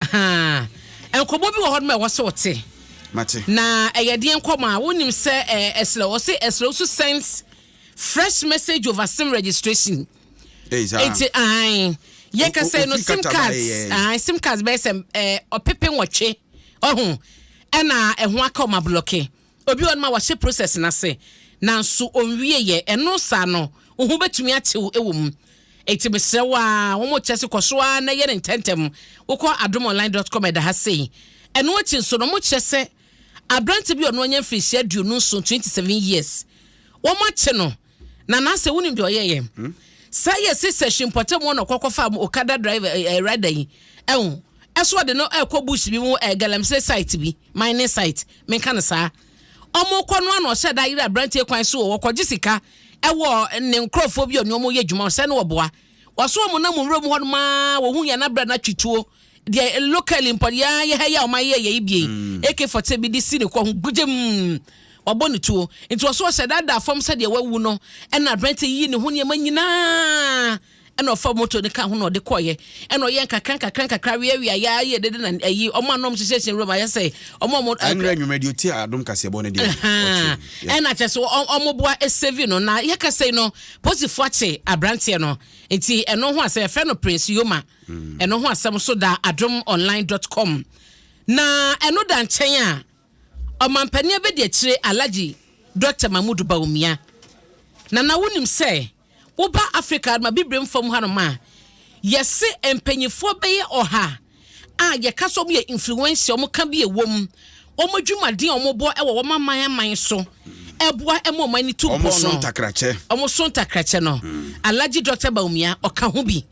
Ahaa. Nkɔmmɔ bi wɔ hɔ nom a ɛwɔ sɛ ɔte. Mate. Na ɛyɛ deɛ nkɔmmɔ a wonim sɛ ɛsrɛ wɔ sɛ ɛsrɛ wo so sends fresh message over sim registration. Eti ahan yɛ kasa no sim cards ahan sim cards bɛyɛ sɛ ɔpepe nwɔtwe ɔho ɛna ɛho aka ɔma blɔke. Obi wɔ hɔnom a wahyɛ process no ase nanso ɔnwieɛ, ɛno saa no wo ho bɛtumi atew wɔ mu. Enti mesrɛ wo ara, wɔn kyerɛ se kɔ so ara na yɛ no ntɛntɛm. Wokɔ adomonline dot com ɛda ha sei. Ɛno akyi nso no wɔn kyerɛ sɛ aberante bi a ɔno anya mfirihyia aduonu nson, twenty seven years, wɔn akye no. na na sɛ wonim deɛ ɔyɛ yɛ hmm? saa yɛ se session mpɔtam hɔ na ɔkɔkɔ fa okada driver eh, eh, rider yi ɛho ɛso ɔde no ɛkɔ bush bi mu eh, galamsey site bi mining site menka no saa ɔmo kɔ no ano ɔhyɛ da ayere aberanteɛ kwan so wɔ wɔkɔgye sika ɛwɔ ne nkorɔfoɔ bi ɔne ɔmo yɛ adwuma ɔsɛ ne wɔboa wɔso ɔmo nam nwura mu hɔ no maa wɔhu yɛn abrɛ no atwituo Deɛ locally mpo deɛ ara yɛ ha yi a wɔn ayɛ yɛ yi bie AK forty bi de si ne kɔ ho gugyem wabɔ ne tuo nti ɔso ɔsɛ daadaa fam sɛ deɛ wawu no ɛna aberante yi ne ho nneɛma nyinaa ɛna ɔfa moto ne ka ho na ɔde kɔɔyɛ ɛna ɔyɛ nkakra nkakra nkakra wia wia yɛ ayɛ dede na ɛyi ɔmo anom hyehyɛ hyɛ nwura mu ayɛ sɛ ɔmo ɔmo ɛnrɛ nwumrɛ deɛ ɔti adom kaseɛbɔ ne deɛ ɛna kyɛ so ɔmo boa ɛsɛvi no na yɛkasɛ no posifoɔ akye aberanteɛ no nti ɛno ho asɛ yɛfrɛ no prince yoma Ɛno ho asɛm nso da adomonline dot com. Na ɛno da nkyɛn a, ɔmampanin abɛdi akyire Alagye Dɔkta Mahmood Bawumia. Nana wonim sɛ woba Africa adoma bibirem fam hanom a, yɛse mpanyinfoɔ bɛyɛ ɔha a yɛka sɛ wɔn yɛ influencer, wɔn ka bi ɛwom, wɔn adwumaden a wɔn bɔ ɛwɔ wɔn aman aman so ɛboa ɛma wɔn ani tu mpɔn no, wɔn so ntakrakyɛ no, Alagye Dɔkta Bawumia ɔka ho bi.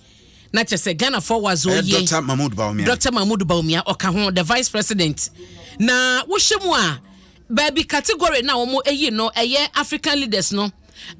na kyɛ sɛ ghanafoɔ wazo yie dr mahmood bawumia dr mahmood bawumia ɔka ho the vice president na wohyɛ mu a baabi category na wɔn ayi no ɛyɛ african leaders no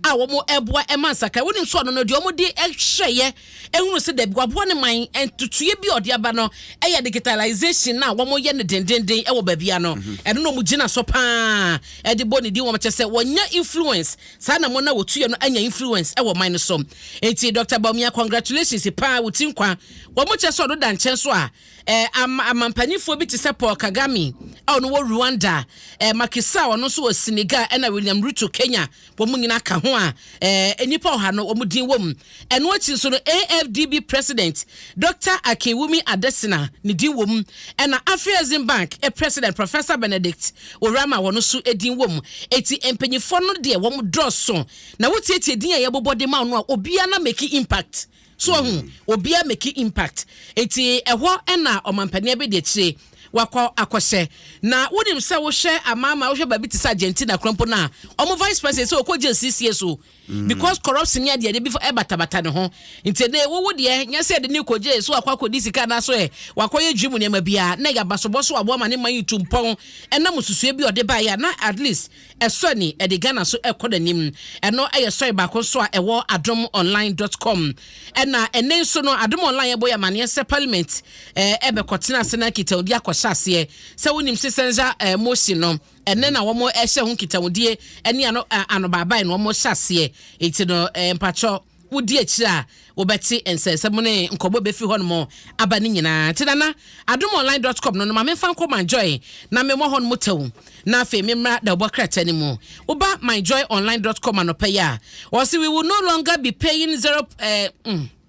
a wɔn ɛboa ɛma nsaka wɔn nso ɔno no deɛ wɔn de ɛhyɛ yɛ ehunu sɛ dɛbi waboa ne man ntutuye bi ɔde aba no ɛyɛ digitalization na wɔn yɛ ne dendenden ɛwɔ baabi ano mhm. ɛno na wɔn gyina so paa ɛde bɔ ne din wɔn kyɛ sɛ wɔnya influence Saa na wɔn a wɔtuiɛ no anya influence ɛwɔ ɔman no so. Enti Doctor Bawumia congratulations paa wo ti nkwa. Wɔn kyɛ sɛ ɔno da nkyɛn so a ɛɛ ama amampanyinfoɔ bi te sɛ Paul Kagame a ɔno wɔ Rwanda, ɛɛ Macky Sall ɔno nso wɔ Senegal ɛna William Ruto Kenya wɔn nyinaa ka ho a ɛɛ nnipa ɔha no wɔn din wɔ mu. Ɛno akyi nso no, AFDB President Dɔkta Akinwumi Adesina a ne din wom, ɛna Afreximbank President Professor Benedict Oram a wɔn nso din wom. Enti mpanyinfoɔ no deɛ wɔn dɔɔso na wotietie din a yɛbobɔ de ma wɔn a obiara na make impact. So ɔho, obiara make impact. Enti ɛhɔ ɛna ɔmampanin abɛdi akyire wakɔ akɔhyɛ. Na wonim sɛ wohwɛ amaama, wohwɛ baabi te sɛ Argentina kora mpo no a, wɔn Vice President sɛ ɔkɔgye nsiesie so. because corruption ne adeade bi batabata ne ho nti ɛnɛ wowo deɛ nyɛ sɛ ɛde ne kɔgye so wakɔ akɔdi sika anaso ɛ wakɔyɛ dwi mu nneɛma biara na ɛyɛ abasobɔ so aboa ma ne man yi tu mpɔn ɛnam susue bi ɔde baeɛ a na at least ɛsɔ ani ɛde Ghana so ɛkɔ n'anim ɛno ɛyɛ sɔre baako nso a ɛwɔ adom online dot com ɛna ɛnɛ nso no adom online ɛbɔ yɛ amaneɛ sɛ parliament ɛbɛkɔtena ase na nkitahodie akɔhyɛ aseɛ sɛ wonim sɛ sɛnza motion no Ɛnnɛ na wɔn ɛhyɛ ho nkitahodie ɛne ano anobaabae na wɔn hyɛ aseɛ eti no mpakyɛw wo di akyire a wo bɛte nsɛnsɛm ne nkɔmɔ ɛbɛfiri hɔ nom aba ne nyinaa nti nana adomonline dot com no no ma memfa nkɔ my joy na me mɔ hɔ nom tɛw na afei me mmra dawubɔ krataa no mu wo ba my joy online dot com anɔpɛ yi a wɔsi we will no longer be paying zero ɛɛ. Eh, mm.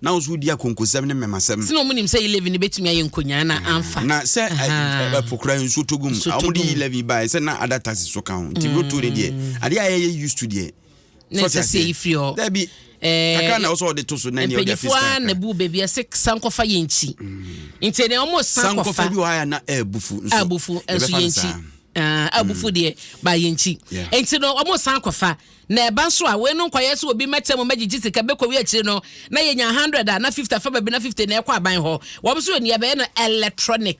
Na wɔn nso wodi akonkossɛm ne mmɛmasɛm. Sɛnea wɔnim sɛ yi leaven no betumi ayɛ nkonyaa na amfa. Na sɛ ɛpo kura nsuo tɔ gu mu a, wɔde yi leaven baeɛ sɛ na ada taxes so ka ho. Nti roto ne deɛ, adeɛ a yɛyɛ used to deɛ. Na ɛsɛ sɛ yi firi hɔ. Dabi. Eh, kakra na ɔsɔ ɔde to so na ɛnyɛ ɔde afis kakra na bu baabi ɛsɛ sankɔfa yɛ nkyi mm. nti ɛnɛ ɔmo sankɔfa bi wɔ ha na ɛbufu nso ɛbufu nso yɛ nkyi ɛbufu ah, mm. deɛ ba yɛ nkyi nti no ɔmo sankɔfa Na ɛba nso a, wei no nkɔyɛ sɛ obi mmɛtɛ mu mmɛgyegye sika bɛkɔwie akyire no na yɛnya hundred a, na fifty afa baabi na fifty na ɛkɔ aban hɔ. Wɔn nso yɛ nea bɛyɛ no electronic,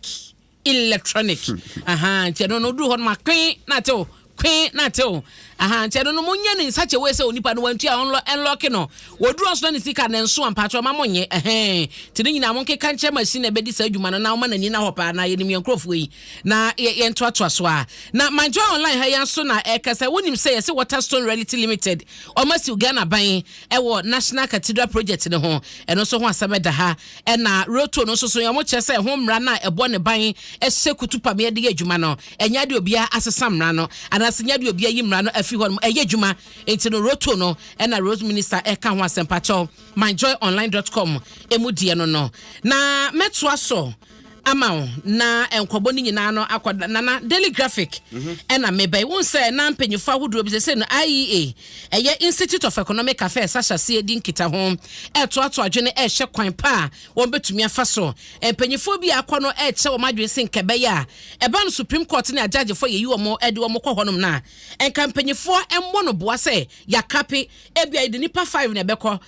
electronic, ahaa, nti ɛno no, woduru hɔ no ma kwe na ate o, kwe na ate o, ahaa, nti ɛno no monyɛ no in such a way sɛ onipa no wantua a, ɔnlɔ, ɛnlɔke no. Wɔduru hɔ nso na ne sika no ɛnso a, mpakyɛw mma monyɛ, ɛhɛɛn. Nti ne nyinaa monkeka nkyerɛ machine a ɛbɛdi saa adwuma no na ɔma n'ani nna hɔ paa, na yɛnim yɛn nkorɔfoɔ yi. Na yɛn toatoa so a na my joy online ha yɛn so na ɛkasa wonim sɛ yɛsɛ Waterstone Reality Limited wɔn asiw Ghana ban ɛwɔ National Cathedral Project no ho ɛno nso ho asɛm ɛda ha ɛna Roto no nso so yɛn wɔn kyerɛ sɛ ɛho mmara no a ɛbɔ ne ban ɛhyɛ kutu pam yɛde yɛ adwuma no ɛnyɛ adeɛ obiara asesa mmara no anaasɛ nyɛ adeɛ obiara yi mmara no afi hɔ no ɛyɛ adwuma nti no Roto no ɛna Road Minister ɛka ho asɛmpakyɛw myjoyonline.com ɛmu deɛ no no na mɛtoa so ama wo na nkɔbɔ no nyinaa no akɔ da nana daily graphic ɛna mhm. meba yi wohu sɛ na mpanyinfoɔ ahodoɔ bi sɛsɛ no IEA ɛyɛ Institute of Economic Affairs ahyɛseɛ di nkita ho ɛtoato adwene ɛhyɛ kwan pa a wɔn bɛtumi afa so mpanyinfoɔ bi akɔ no ɛkyɛ wɔn adwene se nkɛbɛyɛ a ɛba no Supreme Court ne agyagyefoɔ yɛyi wɔn ɛde wɔn kɔ hɔnom na nka mpanyinfoɔ mmɔ no boa sɛ yɛakape ebi a yɛde nipa five na ɛbɛkɔ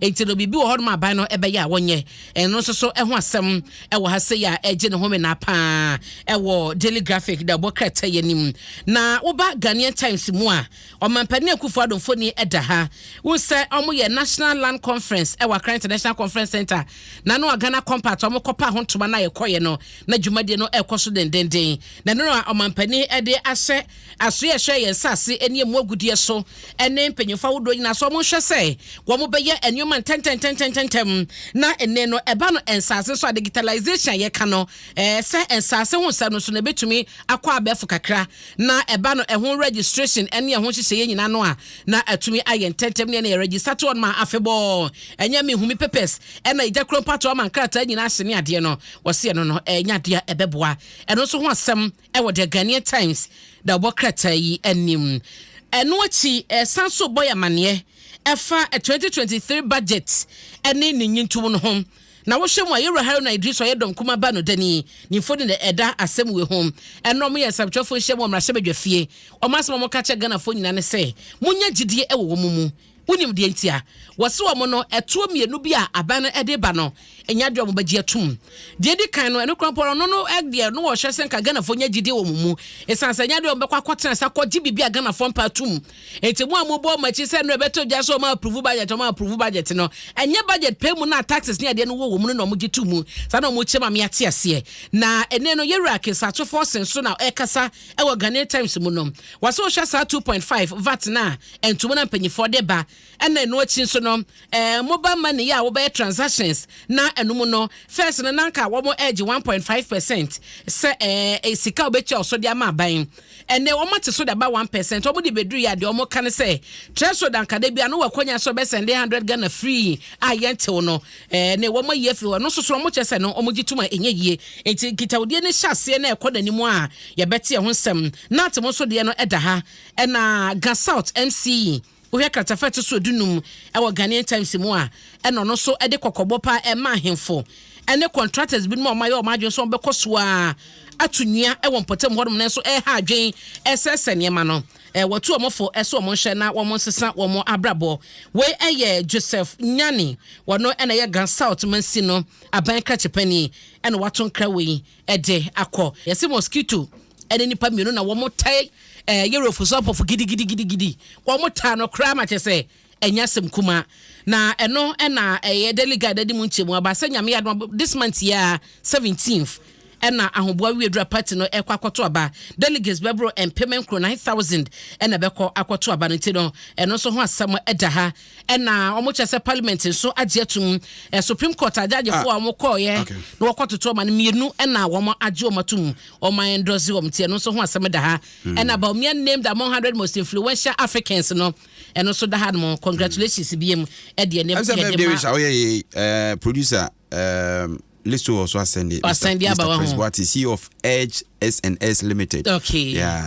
Enti no, biribi wɔ hɔnom a aban no bɛyɛ a wɔnyɛ. Ɛno nso so ho asɛm wɔ ha sei a ɛregye ne homenaa paa wɔ Daily Graphic da ɛbɔ krataa yi anim. Na woba Ghanaian Times mu a, Ɔmampanin Akufo-Addo mfoni da ha. Wohu sɛ wɔyɛ National Land Conference wɔ Accra International Conference Centre, na ɛno a Ghana Compact a wɔkɔpaa ho ntoma no a yɛkɔeɛ no, na dwumadie no rekɔ so dendeenden. Na ɛno na Ɔmampanin de ahyɛ Asoɛ ɛhyɛ yɛn nsase ne ɛmu agudeɛ so ne mpanyinfoɔ ahodoɔ nyinaa sɛ wɔnhwɛ sɛ wɔbɛyɛ nnoɔma ntɛntɛntɛntɛntɛm na nne no ɛba no nsase so a digitalization a yɛka no sɛ nsase ho nsɛm no so na ɛbɛtumi akɔ abɛɛfo kakra na ɛba no ɛho registration ne ɛho nhyehyɛeɛ nyinaa no a na atumi ayɛ ntɛntɛm ne ɛna yɛ register to ɔnom a afebɔɔ ɛnyɛ me humi papers ɛna ɛgya kuro mpatoa ma nkrataa nyinaa hyɛ ne adeɛ no wɔseɛ no no ɛnyɛ adeɛ ɛbɛboa ɛno nso ho asɛm wɔ The Ghanaian Times da ɔbɔ krataa yi anim. Ɛno akyi ɛsan nso bɔ yɛ amaneɛ ɛfa 2023 budget ɛne ne nyintow no ho. Na wohwɛ mu a Yɛwura Haruna Idris ɔyɛ dɔm kuma ba no dani ne mfoni na ɛda asɛm wei ho. Ɛno ɔmo yɛ nsɛmtwerɛfoɔ nhyia mu wɔ mmarahyɛbadwafie. Ɔmo asɛm a ɔmo ka kyerɛ Ghanafoɔ nyinaa ne sɛ, monya gyidie wɔ wɔn mu. Wonim deɛ nti a wɔse wɔn no ɛtoɔ mmienu bi a aban no de ba no nya deɛ wɔbɛgye atum. Deɛ edi kan no, ɛno korampɔ no no deɛ no wɔhwɛ sɛ nka Ghanafoɔ nya gyidie wɔ wɔn mu ɛsiane sɛ nya deɛ wɔbɛkɔ akɔtena ase akɔgye biribi a Ghanafoɔ mpɛ atum. Enti mo a mobɔ wɔn akyi sɛ no ɛbɛtɔ gya sɛ wɔn approve budget wɔn approve budget no ɛnyɛ budget pɛ mu na taxes ne adeɛ no wɔ wɔn no na wɔgye to mu saa na wɔkyerɛ ma me ate aseɛ. Na ɛnɛ no Yɛwura Kensah Atwofoɔ Ɔsen so na ɛkasa wɔ Ghanaian Times mu no, wɔasɛ wohwɛ saa 2.5 vat no a ntomu na mpanyinfoɔ de ba ɛna ɛno akyi nso no ɛɛ mobile money yɛ a wɔbɛyɛ transactions na ɛno mu no first no nanka wɔn ɛregye 1.5 percent sɛ ɛɛ sika wɔbɛtua ɔso de ama aban ɛnɛ wɔn ate so de aba 1 percent wɔn de bɛduru yɛ adeɛ wɔn ka no sɛ threshold ankada bi ano wɔ akɔnya sɛ wɔbɛsɛnde 100 Ghana free a yɛntew no Ɛɛ ne, wɔayi afiri hɔ. Ɛno nso so, wɔkyerɛ sɛ no, wɔgye tom a ɛnyɛ yie. Enti nkitawodie no hyɛ aseɛ na ɛkɔ n'anim a, yɛbɛte ɛho nsɛm. Nantemo nso deɛ no da ha. Ɛna Ga South MCE, wohwɛ kratafa a ɛto so dunum wɔ Ghanaian Times mu a, ɛna ɔno nso de kɔkɔbɔ paa ɛma ahemfo ne contractors binom a wɔayɛ wɔn adwene sɛ wɔbɛkɔ so ara ato nnua wɔ mpɔtam hɔnom nanso ɛreha adwene, ɛresɛesɛ nneɛma no. wɔtu wɔn fo sɛ wɔn nhwɛ na wɔn nsesa wɔn abrabɔ. Wei yɛ Joseph Nyani, ɔno na ɛyɛ Ga South Mansin no aban krakye panin na wato nkra wei de akɔ. Yɛse mosquito ne nipa mmienu na wɔn tae yɛrɛ ofusɔpɔfo gidigidigidi, wɔn taa no koraa ma kyɛ sɛ Ɛnyɛ asɛm kumaa. Na ɛno na ɛyɛ Daily Guide adi mu nkyɛmu aba sɛ Nyame yɛ adom a this month yi ara, 17th, ɛna Ahoboa Wiadura Party no ɛkɔ akɔto aba. Delegates bɛboro mpem nkron, 9,000, ɛna ɛbɛkɔ akɔto aba no nti no, ɛno nso ho asɛm ɛda ha. Ɛna wɔkyerɛ sɛ Parliament nso agye atum. Supreme Court agyagyefoɔ a wɔkɔɔeɛ na wɔkɔtoto ɔma no mmienu ɛna wɔn agye wɔn atum, wɔn a endorse wɔn nti ɛno nso ho asɛm da ha. Ɛna Bawumia named among 100 most influential Africans no, ɛno nso da ha nom mm. congratulations bia mu ɛdeɛ ne yɛde ma woyɛ yɛ eh, producer eh, list wɔ so asɛnde asɛnde aba wɔ ho Mr. Chris Boati CEO of Edge S&S Limited okay yeah